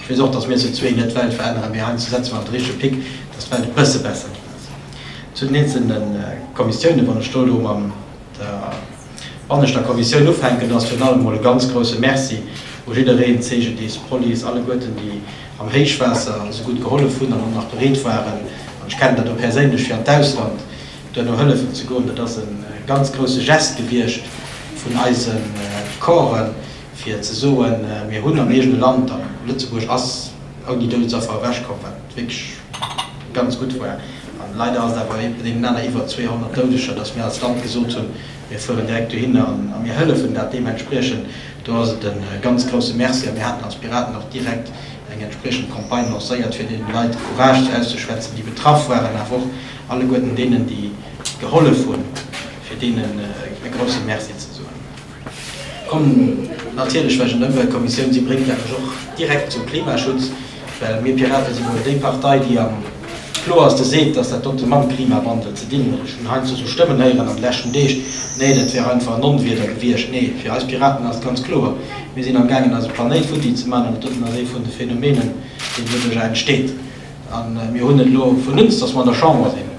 Ech weess och, datt mir zu zwee net d'Welt veränneren, mee heiansdo setze mer awer de richtege Pic, datt d'Welt e bësse besser ginn ass. Zu den eenzelne Kommissiounen, wann ech do elo mam der banneschter Kommissioun ufänken, ass virun allem emol e ganz grouse Merci u jiddereen, CGDIS, Police, alleguerten, déi am Héichwaasser esou gutt gehollef hunn an och nach bereet waren, an ech kennen dat och perséinlech, fir an d'Ausland duerno hëllefen ze goen. Dat ass e ganz grouse Geste gewiescht vun eise Corpsen, fir ze soen, mir hunn am eegene Land, a Lëtzebuerg ass ouni Doudesaffer ewech komm, wat wierklech ganz gutt war, a leider ass et awer ee bedéngt naner iwwer 200 Doudeger, datt mir als Land gesot hunn, mir fueren direkt dohinner a mir hëllefen dat deementspriechend. Do ass et e ganz grousse Merci, a mir haten als Piraten och direkt eng entspriechend Campagne lancéiert, fir deene Leit Courage ze auszeschwätzen, déi betraff waren, awer och alleguerten deenen, déi gehollef hunn, fir deenen e grousse Merci ze soen. Kommen natierlech, well ech en Ëmweltkommissioun sinn, bréngt dat mech och direkt zum Klimaschutz, well mir Piraten si wuel déi Partei, déi am kloerste seet, dass dat dote mam Klimawandel ze dinn huet. Ech hunn heiansdo sou Stëmmen héieren an de leschten Deeg, nee dat wär einfach en Onwieder gewiescht. Nee, fir eis Piraten ass et ganz kloer, mir sinn am gaangen eise Planéit futti ze maachen an et doten ass ee vun de Phenomenen, deen doduerjer entsteet. A mir hunn et elo vun uns, datt mer an der Chamber sinn,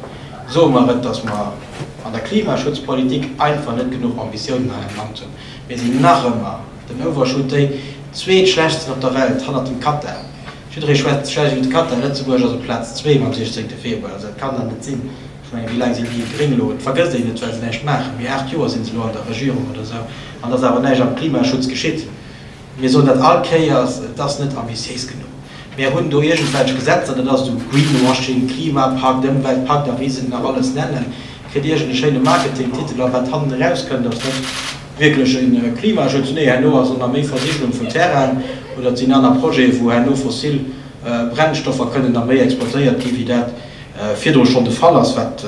soe mer et, datt mer an der Klimaschutzpolitik einfach net genuch Ambitiounen hei am Land hunn. Mir sinn nach ëmmer den Overshoot, déi zweetschlechtsten op der Welt, hannert dem Katar. Jidderee schwätzt schlecht iwwer de Katar, Lëtzebuerg ass op Plaz zwee mam 16. Februar. Also dat kann dann net sinn. Ech menge, wéi laang sinn déi Gréng elo? Et vergësst een et, well se näischt maachen. Mee aacht Joer si se elo an der Regierung oder esou, an et ass awer näischt am Klimaschutz geschitt. Mir soen dat all Kéiers, et ass net ambitiéis genuch. Mär hunn do iergendwelch Gesetzer, dat ass esou Greenwashing, Klimapakt, Ëmweltpakt a wéi se nach alles nennen, kritt iergendee schéine Marketingtitel a wat hannen erauskënnt, ass net wierklech e Klimaschutz. Nee, herno ass ëmmer méi Versigelung vun Terrainen oder et sinn aner Projete, wou herno fossil Brennstoffer kënnen nach méi exploitéiert ginn, wéi dat virdru schonn de Fall ass, wat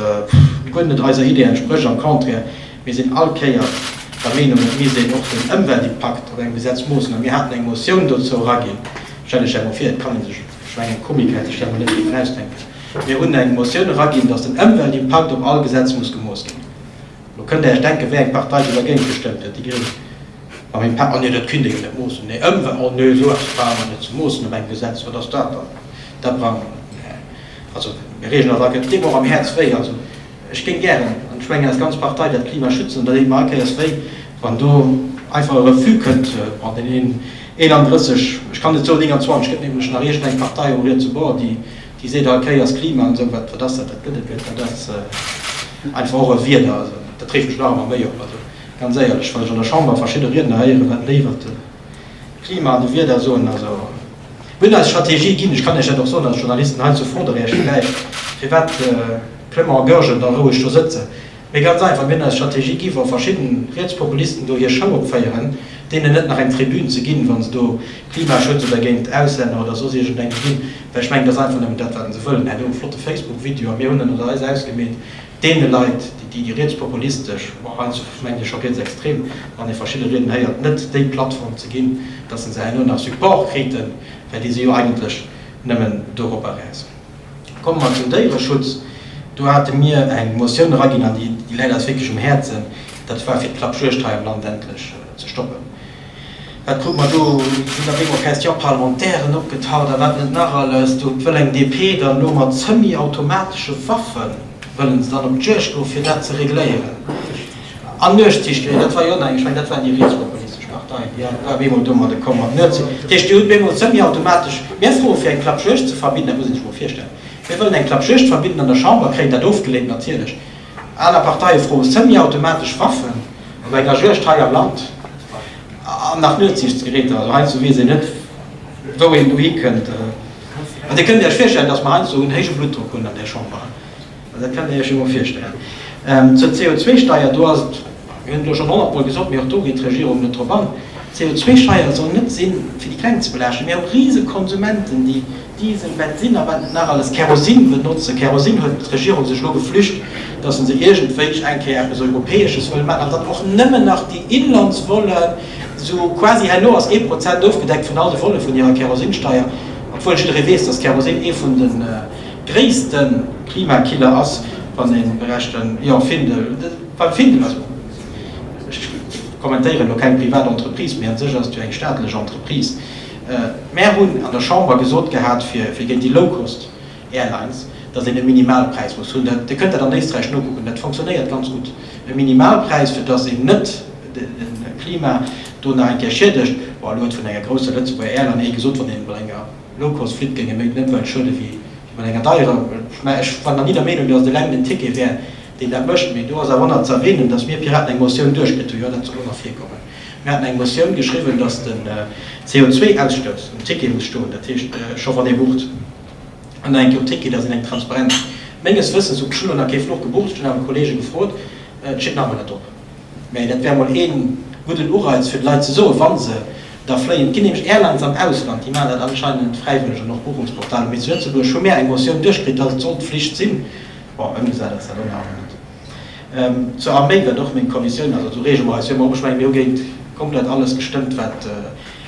guer net eiser Idee entsprécht, am Contraire. Mir sinn all Kéier der Meenung, et misst een och den Ëmweltimpakt op engem Gesetz moossen. A mir haten eng Motioun dozou eraginn, stellen ech emol vir, et kann ee sech, ech mengen eng Komik hätt sech dat emol net dierfen ausdenken, mir hunn eng Motioun eraginn, datt den Ëmweltimpakt op all Gesetz muss gemooss ginn. Elo kënnt Dir Iech denken, wéi eng Partei do dergéint gestëmmt huet, déi Gréng mam Impakt. Ah nee, dat kinnt ee jo net moossen, nee Ëmwelt, oh nee, sou eppes brauche mer net ze moossen op engem Gesetz, wat ass dat dann, dat brauche mer net, mä also mir reegelen dat all, et deet mer och am Häerz wéi. Ech géing gären, an ech mengen eis ganz Partei, dat Klima schützen. Da denke mer all Kéiers, wéi wann do einfach e Refus kënnt an den 31, ech kann net soen 29, gëtt nämlech nach iergendeng Partei um Rietsebord, déi seet all Kéiers, Klima an esou, wat ass dat, dat gëtt et net. Dat ass einfach och e Wieder. Also dat reegt mech nach ëmmer méi op. Also ganz éierlech, wann ech an der Chamber verschidde Riedner héieren, wat léiwer d'Klima an de Wieder soen, also. Mir hunn eis Strategie ginn. Ech kann Iech dat och soen als Journalisten hei zu Froderäerch villäicht, firwat de Clement a Goergen da roueg do sëtzen. Mee ganz einfach, mir hunn eis Strategie gi wa verschidden Rietspopulisten do hir Show opféieren, deenen net nach eng Tribün ze ginn, wa se do Klimaschutz oder géint Auslänner oder soss iergendengem ginn. Well ech mengen, et ass einfach nëmmen dat, wat se wëllen. Hei, do e flotte Facebook-Video a mir hunn en oder eis ausgemeet. deene Leit, déi déi rietspopulistesch, ma hei mengen ech scho rietsextrem, wann ee verschidde Rieden héiert, net déi Plattform ze ginn, datt se herno nach Support kriten, well déi si jo eigentlech nëmmen doropper räis. Komme mer zum Déiereschutz. Do hate mir eng Motioun eraginn, an déi läit eis wierklech um Häerzen, dat war fir d'Klappjuegd hei am Land endlech ze stoppen. Wat krute mer do? Sinn op eemol kräiz d'Japarlementairen opgetaucht a wat net nach alles. Do wëll eng DP dann elo mat semi-automatesche Waffe wëllen se dann op d'Juegd goen, fir dat ze regléieren. An Nuetssichtlinn, dat war jo nach eng, ech mengen, dat waren déi rietspopulistesch Parteien, déi op eemol domadde komm mat Nuetssicht. Dat heescht, Dir hutt op eemol semi-automatesch. Mär froe fir eng Klappjuegd ze verbidden. Dat muss ee sech emol virstellen. Mir wëllen eng Klappjuegd verbidden an der Chamber, kréien dat ofgeleent, natierlech. Aner Parteie froe semi-automatesch Waffen op enger Juegd hei am Land an nach Nuetsiichtsgeräter. Also heiansdo weess een net, wou een do hikënnt. An Dir kënnt Iech virstellen, datt mer heiansdo en héije Bluttdrock hunn an där Chamber. Dat kënnt Dir Iech jo mol virstellen. Zur CO2-Steier, do ass et, mir hunn et elo schonn honnertmol gesot, mee och do geet d'Regierung net drop an, D'CO2-Steier soll net si fir déi Kleng ze belaaschten. Mir hu Risekonsumente, déi Diesel, Bensin a wat net nach alles, Kerosin benotzen. Kerosin huet d'Regierung sech elo geflücht, dass se se iergendwéi eng Kéier eppes Europäesches wëll maachen an dann och nëmmen nach déi Inlandsvollen, sou quasi herno ass ee Prozent ofgedeckt vun all de Volle vun hirer Kerosinsteier, obwuel jidderee weess, dass Kerosin ee vun de gréisste Klimakiller ass, wann ee berechent, jo, Findel, beim Findel, also ech kommentéieren elo keng privat Entreprise, mee un sech ass et jo eng staatlech Entreprise. Mär hunn an der Chamber gesot gehat fir géint déi Low-Cost Airlines, datt een e Minimalpräis muss hunn. Dir kënnt dat an Éisträich nokucken, dat fonctionnéiert ganz gutt. E Minimalpräis, fir datt een net de Klima do nach eng Kéier schiedegt. Bon, elo huet vun enger grousser Lëtzebuerger Airline ee gesot, wann ee mat enger Low-Cost flitt, géing e méi den Ëmwelt schuede wéi mat enger deierer. Mä ech war nach ni der Meenung, datt et eleng den Ticket wär, deen dat mécht. Mee do ass awer och nach ze erwänen, datt mir Piraten eng Motioun duerchkritt hunn, jo, dat soll och nach virkommen. Mir haten eng Motioun geschriwwen, dass den CO2-Ausstouss um Ticket muss stoen, dat heescht, scho wann ee bucht, an nach eng Kéier um Ticket, dass een eng Transparenz menges Wëssens huet. Ech hunn elo nach kee Fluch gebucht, ech hunn awer Kollege gefrot, et steet nach emol net drop, mä dat wär emol ee gudden Ureiz fir de Leit ze soen, wa se da fléien. Et ginn nämlech Airlines am Ausland, déi maachen dat anscheinend fräiwëlleg, an och Buchungsportaler, mä zu Lëtzebuerg hu mir eng Motioun duerchkritt, dass et sollt Flicht sinn. Bon, ëmgesat ass dat och nach emol net. Zur Arméi wat och meng Kommissioun ass, also reege mer eis jo. Mä och ech mengen, mir hu géint komplett alles gestëmmt, wat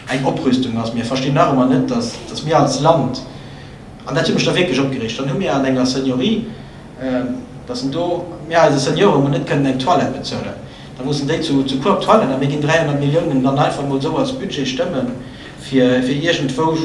eng Oprüstung ass. Mä ech verstinn nach ëmmer net, datt mir als Land, an dat huet mech da wierklech opgereegt, dann hu mir an enger Seniorie, datt en do, mir eise Seniore mol net kënnen eng Toilette bezuelen, da mussen déi zu Coop toilen, a mir ginn 300 Milliounen dann einfach mol esou als Budget stëmme fir iergendwou.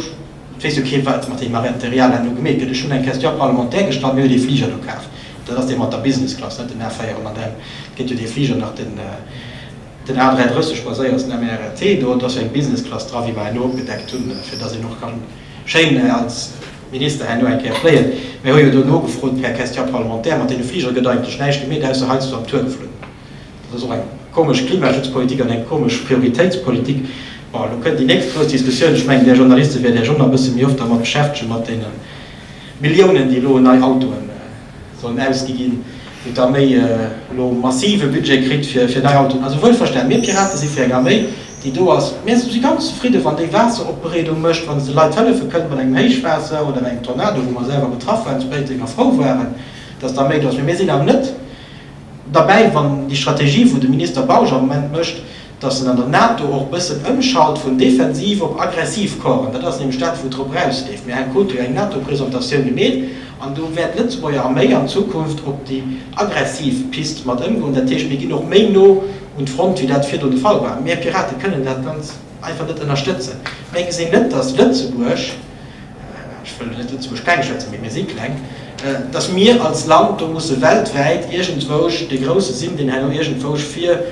Et weess jo keen, wat mat deem Arrêt de Real herno gemeet gëtt. Ech hunn eng Question parlementaire gestallt. Mir hu dee Fliger do kaf. Dat ass dee mat der Business Class, net den A400M. Et gëtt jo dee Fliger nach, den A330 Passagiers, den MRRT. Do ass jo eng Business Class dra, wéi mer herno opgedeckt hunn, fir dass een och ka schéin als Minister herno eng Kéier fléien. Mir hu jo do nogefrot per Question parlementaire. Mat deene Fligere gëtt eigentlech näischt gemeet, ausser heiansdo am Tour geflunn. Dat ass och eng komesch Klimaschutzpolitik an eng komesch Prioritéitspolitik. Bon, elo kënnt déi nächst grouss Diskussioun. Ech mengen, Där Journaliste wäert Iech och nach e bësse méi oft dermat beschäftegen, mat deene Milliounen, déi elo un nei Autoen sollen ausgi ginn, wou d'Arméi elo e massive Budget kritt fir nei Autoen. Also wuelverstanen, mir Piraten si fir eng Arméi, déi do ass. Mä si si ganz zefridden, wann déi Waasseropbereedung mécht, wann se de Leit hëllefe kënnt mat engem Héichwaasser oder engem Tornado, wou mer selwer betraff waren zu Péiteng a frou waren, datt d'Arméi do ass. Mä mir sinn awer net. Derbäi, wann déi Strategie wou de Minister Bausch am Moment mécht, datt en an der NATO och bëssen ëmschalt vun defensiv op aggressiv Corpsen, dat ass nämlech dat wou drop erausleeft. Mir haten do eng NATO-Presentatioun gemeet an do wäert d'Lëtzebuerger Arméi an Zukunft op déi aggressiv Pist mat ëmgoen. Dat heescht, mir ginn och méi no un d'Front wéi dat virdu de Fall war. Mir Pirate kënnen dat ganz einfach net ënnerstëtzen. Mir gesinn net, datt Lëtzebuerg, ech wëll net Lëtzebuerg kleng schwätzen, mee mir si kleng, datt mir als Land do musse weltwäit iergendwousch dee Grousse sinn, deen herno iergendwousch vir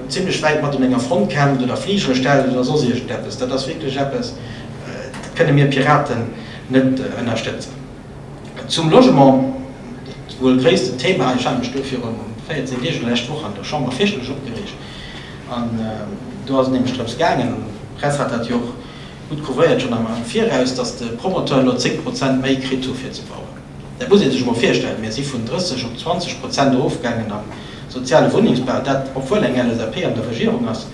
zimlech wäit mat un enger Front kämpft oder Fligere stellt oder soss iergendeppes. Dat ass wierklech eppes, dat kënne mir Piraten net ënnerstëtzen. Zum Logement, dat wuel gréissten Thema, ech hat mech do viru 14 Deeg oder lescht Woch an der Chamber fierchterlech opgereegt, an do ass et nämlech drëms gaangen, an d'Press hat dat jo och Gutt prouvéiert schonn am Viraus, datt de Promoteur elo 10 Prozent méi kritt hu fir ze bauen. Dat muss ee sech emol virstellen, mir si vun 30 op 20 Prozent erofgaangen am soziale Wunnengsbau, dat obwuel eng LSAP an der Regierung ass.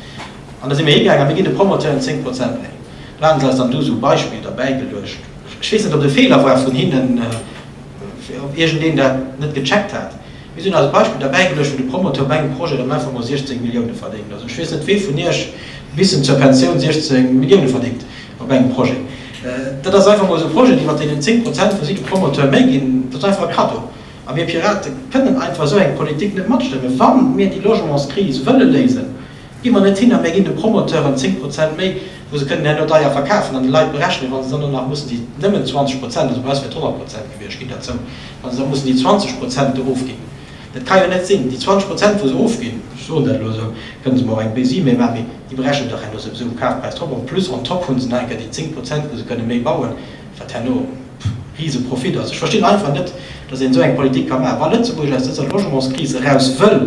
An da si mir higaangen a mir ginn de Promoteuren 10 Prozent méi. Do hate se eis dann do esou Beispiller derbäigeluecht. Ech weess net, ob et e Feeler war vun hinnen, ob iergendeen dat net gecheckt hat. Mir sinn als Beispill derbäi geluecht, wou de Promoteur bei engem Projet am Infomod 16 Millioune verdéngt. Also ech weess net, wee vun Iech bissen zur Pensioun 16 Millioune verdéngt op engem Projet. Dat ass einfach emol esou e Projet, iwwert deen 10 Prozent, wou si de Promoteur méi ginn, dat ass einfach e Kaddo. A mir Piraten kënnen einfach esou eng Politik net matstëmmen, wa mir déi Logementskris wëlle léisen. Gi mer net hin a mir ginn de Promoteuren 10 Prozent méi, wou se kënnen herno deier verkafen an de Leit berechnen, wa se dann do nach mussen déi nëmmen 20 Prozent, also bei eis wier et 100 Prozent gewiescht, ginn derzou, wa se da mussen déi 20 Prozent do ofginn. Dat ka jo net sinn. Déi 20 Prozent, wou se ofginn, ech soen dat elo esou, kënne se mer och eng Baisie méi maachen, mee déi berechnen dach herno souwisou um Kafpräis drop an plus on top hu se nach eng Kéier déi 10 Prozent, wou se kënne méi bauen, wat herno e Riseprofitt ass. Ech verstinn einfach net, datt een esou eng Politik ka maachen. Wa Lëtzebuerg aus dëser Logementskris eraus wëll,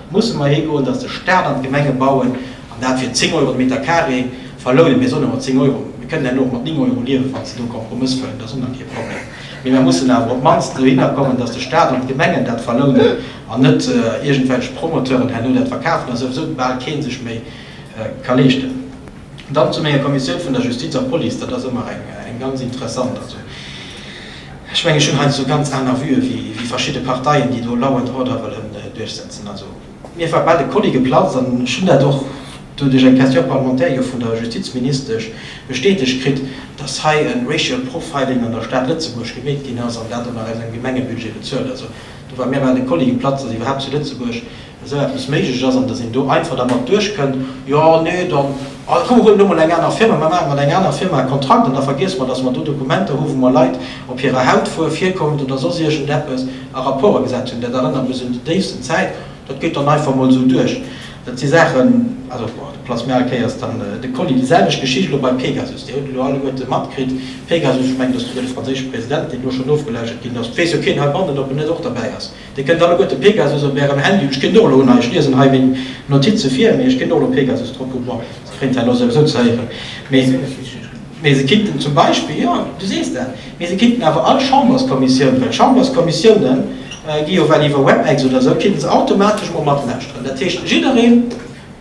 Musse mer higoen, datt de Staat an d'Gemenge bauen an dat fir 10 Euro de Meter carré? Verlounen mir solle mat 10 Euro, mir kënnen herno och mat 9 Euro liewen, wann se do e Kompromëss fënn, dat ass och nach kee Problem. Mee mer mussen awer op d'mannst dohinner kommen, datt de Staat an d'Gemengen dat verlounen an net iergendwelch Promoteuren herno dat verkafen, dat souwisou bal kee sech méi ka leeschten. Dann zu menger Kommissioun vun der Justiz a Police, dat ass ëmmer eng ganz interessant. Ech mengen, ech hunn heiansdo ganz aner Vue wéi verschidde Parteien, déi do law and order wëllen duerchsetzen. Also. Mir war bal de Kolli geplatzt an ech hunn dat och do duerch eng Question parlementaire jo vun der Justizministesch bestätegt kritt, dass hei e racial profiling an der Stad Lëtzebuerg gemeet ginn ass an dat och nach aus engem Gemengebudget bezuelt. Also do war mir bal de Kolli geplatzt, dass iwwerhaapt zu Lëtzebuerg esou eppes méiglech ass an dass een do einfach dermat duerchkënnt, jo nee dann komm mir huelen elo mol eng aner Firma, mir maache mat enger aner Firma e Kontrakt an da vergiesse mer, dass mer do Dokumenter hu wou mer Leit op hirer Hautfuerf, Hierkonft oder soss iergendeppes a Rapport gesat hunn. Dat erënnert mech un déi déifsten Zäit. Dat geet dann einfach mol esou duerch. Dat si Saachen, also bon do platzt mir al Kéiers dann de Kolli. Déi selwecht Geschicht elo bei Pegasus, Dir hutt elo alleguerte matkritt, Pegasus, ech mengen dass du fir de franséische President, deen elo schonn ofgelauschtert ginn ass, et weess jo keen heibannen ob en net och derbäi ass, Dir kënnt alleguer de Pegasus op ärem Handy un. Ech ginn och elo un hei, ech liesen hei meng Notize vir, mee ech ginn och elo Pegasus drop hunn. Bon, se kréien d'Hai elo souwisou ze héieren, mee se kinnten zum Beispill, jo, du sees dat, mee se kinnten awer all Chamberskommissioun, well d'Chamberskommissioune gi jo well iwwer WebEx oder esou, kinnten se automatesch mol matlauschteren. Dat heescht, jiddereen,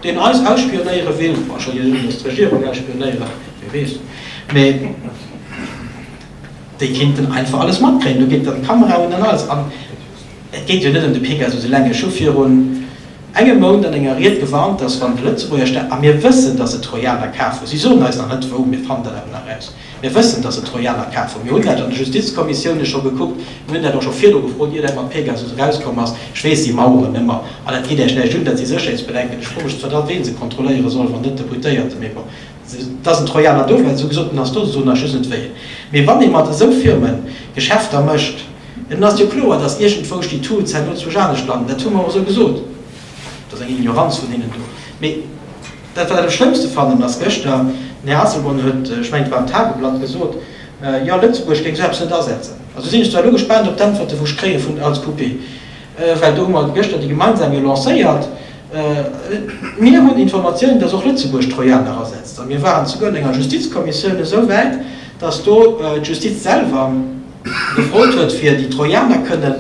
deen eis ausspionéiere will, bon, ech soll jo net mol d'Regierung ausspionéieren, wie weess, mee. Déi kéinten einfach alles matkréien. Do geet dann d'Kamera un an alles. An et geet jo net ëm de Pegasus eleng. Ech hu virun engem Mount an enger Ried gewarnt, datt wann de Lëtzebuerger Staat, a mir wëssen, datt et Trojaner kaf hu, si soen eis nach net wou, mir fannen dat awer nach raus, mir wëssen, datt et Trojaner kaf hu, mir hunn dat an de Justizkommissiounen scho gekuckt, mir hunn dat och scho virdru gefrot, ier dat mat Pegasus erauskomm ass, ech weess déi Maueren ëmmer, an dat geet Iech näischt un, dat si Sécherheetsbedenken, ech fro mech zwar da ween se kontrolléiere soll, wann net d'Deputéierte, mee bon. Dass en Trojaner do wär, esou gesot, den ass do, esou soen ech just net wéi. Mee wann ee mat esou Firme Geschäfter mécht, dann ass jo kloer, dass iergendwousch déi Taux zäitno zu Esch-Anesch landen. Dat hu mer och esou gesot. Dat ass eng Ignoranz vun hinnen do. Mee dat, wat ech am schlëmmste fannen, ass, gëschter, den Här Asselborn huet, ech mengen, et war am Tageblatt, gesot, jo, Lëtzebuerg géing esou eppes net asetzen. Also sinn ech zwar elo gespaant op d'Äntwerte, wou ech kréie vun als QP. Well do hu mer gëschter déi gemeinsam jo lancéiert. Mir hunn Informatiounen, dass och Lëtzebuerg Trojaner asetzt. A mir waren souguer an enger Justizkommissioun esou wäit, dass do d'Justiz selwer gefrot huet, fir déi Trojaner kënnen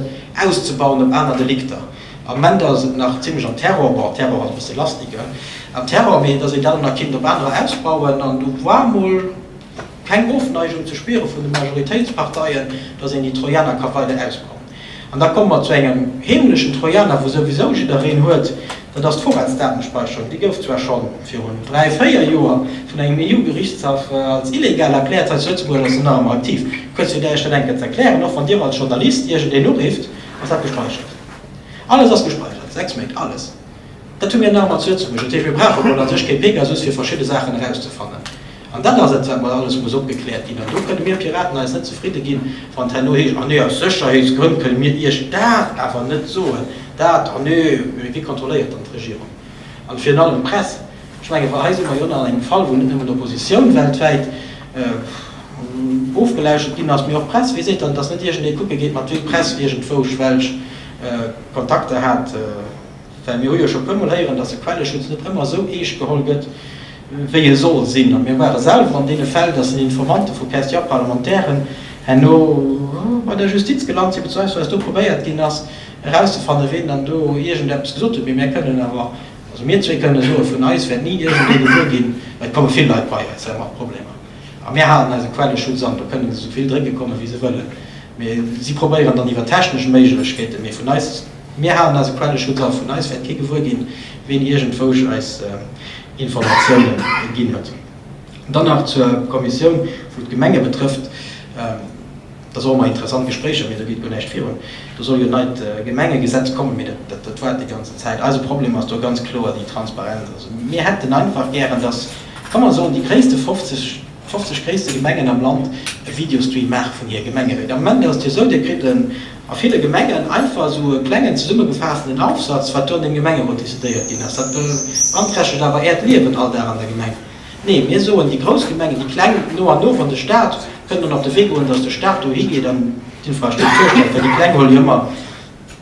auszebauen op aner Delikter. Am Moment ass et nach zimlech am Terror, bon, Terror ass e bësse lastig, hein, am Terror, mee dass een dat och nach kéint op anerer ausbauen an du, voire mol, keng Ofneigung ze spiere vun de Majoritéitsparteien, datt een déi Trojaner ka weider ausbauen. An da komme mer zu engem heemlechen Trojaner, wou souwisou jiddereen huet, dat ass d'Vorratsdatenspeicherung. Déi gouf zwar scho virun dräi, véier Joer vun engem EU-Gerichtshaff als illegal erkläert, hei zu Lëtzebuerg ass se nach ëmmer aktiv. Kuerz fir Dir Iech dat eng Kéier ze erklären, och wann Dir als Journalist iergendeen urifft, ass dat gespeichert. Alles ass gespeichert, sechs Méint, alles. Dat hu mir nach ëmmer zu Lëtzebuerg. Dat heescht, mir brauche mol a sech kee Pegasus, fir verschidde Saachen erauszefannen. An dat ass et, wat mol alles muss opgekläert ginn. An do kënne mir Piraten eis net zefridde ginn, wann et herno heescht, Ah nee, aus Sécherheetsgrënn kënne mir Iech dat awer net soen, dat, ah nee, mee wie kontrolléiert dann d'Regierung an virun allem d'Press? Ech menge hei si mer jo nach an engem Fall, wou net nëmmen d'Oppositioun weltwäit ofgeläuschert ginn ass, mee och d'Press. Wee seet dann, dass net iergendee kucke geet, mat wéi d'Press iergendwousch welch Kontakter hat? Well mir hu jo scho puer mol héieren, dass de Quelleschutz net ëmmer esou eescht geholl gëtt, wéi e soll sinn. A mir ware selwer an deene Fäll, dass den Informantë vu Persti-Parlementairen herno bei der Justiz gelant sinn, bezweiwsweis do probéiert ginn ass, erauszefannen, ween dann do iergendeppes gesot huet. Mee mir kënnen awer, also mir zwee kënnen soen, vun eis wäert ni iergendwee gewuer ginn, et komme vill Leit bei eis mat Problemer a mir halen eise Quelleschutz an. Do kënnen se esou vill drécke kommen, wéi se wëllen, mee si probéieren dann iwwer technesch Méiglechkeeten. Mee vun eis Mir halen eise Quelleschutz a vun eis wäert kee gewuer ginn, ween iergendwousch eis Informatiounen ginn huet. Dann nach zur Kommissioun, wou d'Gemenge betrëfft. Et ass och ëmmer interessant, Gespréicher, mee do geet guer näischt virun. Do soll jo en neit Gemengegesetz kommen, mee dat waart déi ganzen Zäit. Eise Problem ass do ganz kloer déi Transparenz. Also mir hätten einfach gären, dass, ka mer soen, déi gréisste 50. 50 gréisste Gemengen am Land e Videostream maache vun hir Gemengeréit. Am Ament ass et jo esou, Dir kritt a ville Gemengen einfach esou e klengen zesummegefaassten Aufsatz, wat do an deem Gemengerot decidéiert ginn ass. Dat beanträchtegt awer Äert Liewen all Dag an der Gemeng. Nee, mir soen, déi grouss Gemengen, déi kleng no an no, wann de Staat kënnt an op de Wee goen, datt de Staat dohi geet an d'Infrastruktur stellt, well déi kleng hole jo ëmmer,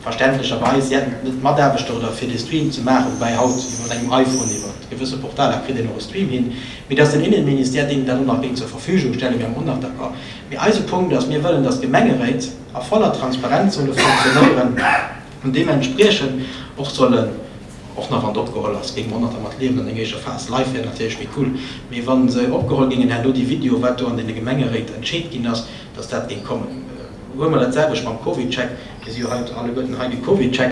Verständlecherweis siänt et net Mataarbechter oder fir dee Stream ze maachen, woubäi haut jo mat engem iPhone iwwert gewësse Portaler kritt een och e Stream hin, mee dass den Innenministère deem dat och nach géing zur Verfügung stelle wäre mer och nach d'accord. Mee eise Punkt ass, mir wëllen, dass d'Gemengeréit a voller Transparenz solle funktionéieren an deementspriechend och sollen, och nach wann et opgeholl ass, géinge mer och nach dermat liewen an enger éischer Phas, live wär natierlech méi cool, mee wa se opgeholl géingen, hätt elo déi Video, wat do an deene Gemengeréit entscheet ginn ass, dass dat géing kommen, huele mer dat selwecht mam Covidcheck. Mir si jo haut alleguerten hei de Covidcheck.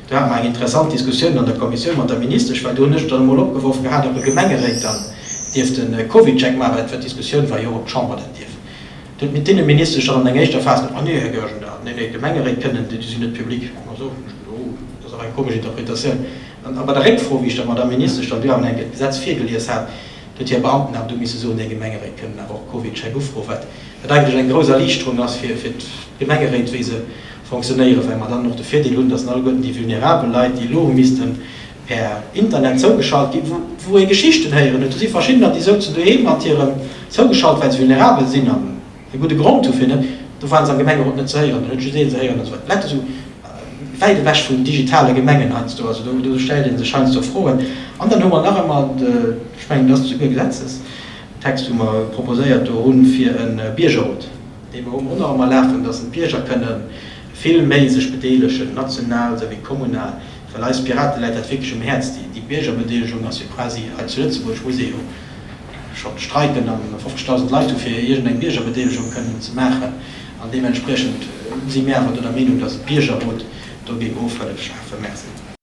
Do hate mer eng interessant Diskussioun an der Kommissioun mat der Ministesch, well do hunn ech et dann emol opgeworf gehat, ob e Gemengeréit dann dierft e Covidcheck maachen, well d'Diskussioun war jo, ob d'Chamber dat dierf. Do huet mir d'Inneministesch dann an enger éischter Phas gesot, Ah nee, Här Goergen, da, nee, nee, d'Gemengeréit kënnen, déi sinn net public. Ah sou, hunn ech gesot, oh, dat ass awer eng komesch Interpretatioun. An bei der Réckfro, wéi ech der Madamm Ministesch dann do awer enk et Gesetz virgelies hat, Huet hir Beamten awer du misse soen, Déi Gemengeréit kënnen awer och Covid-Scheck ufroen. Wat wat eigentlech eng grouss Erliichterung ass fir fir d'Gemengeréit, wéi se fonctionnéieren, well mer dann och de Virdeel hunn, datt alleguerten déi vulnerabel Leit, déi elo hu missten per Internet zougeschalt ginn, wou wou ee Geschichten héieren huet, do si verschiddener, déi souzen doheem mat hirem zougeschalt, well se vulnerabel sinn an, E gudde Grond dofir net, do ware se am Gemengerot net ze héieren. Dann huet just een se héieren, dass wat d'Lett esou wäit ewech vum digitale Gemengen heiansdo ass. Do stellt ee sech heiansdo Froen. An dann hu mer nach ëmmer, ech mengen, et ass esouguer e Gesetzestext, wou mer proposéiert do hunn fir e Biergerrot, dee mer hu mer och nach ëmmer lafen, dass d'Bierger kënne vill méi sech bedeelegen, national souwéi kommunal, well eis Piraten läit dat wierklech um Häerz. Déi Biergerbedeelegung ass jo quasi hei zu Lëtzebuerg, muss ee jo Schonn d'Streiken a 50.000 Leit hu fir iergend eng Biergerbedeelegung kënnen ze maachen an deementspriechend si mir awer do der Meenung, datt e Biergerrot dogéint och Hëllef schafe. Merci.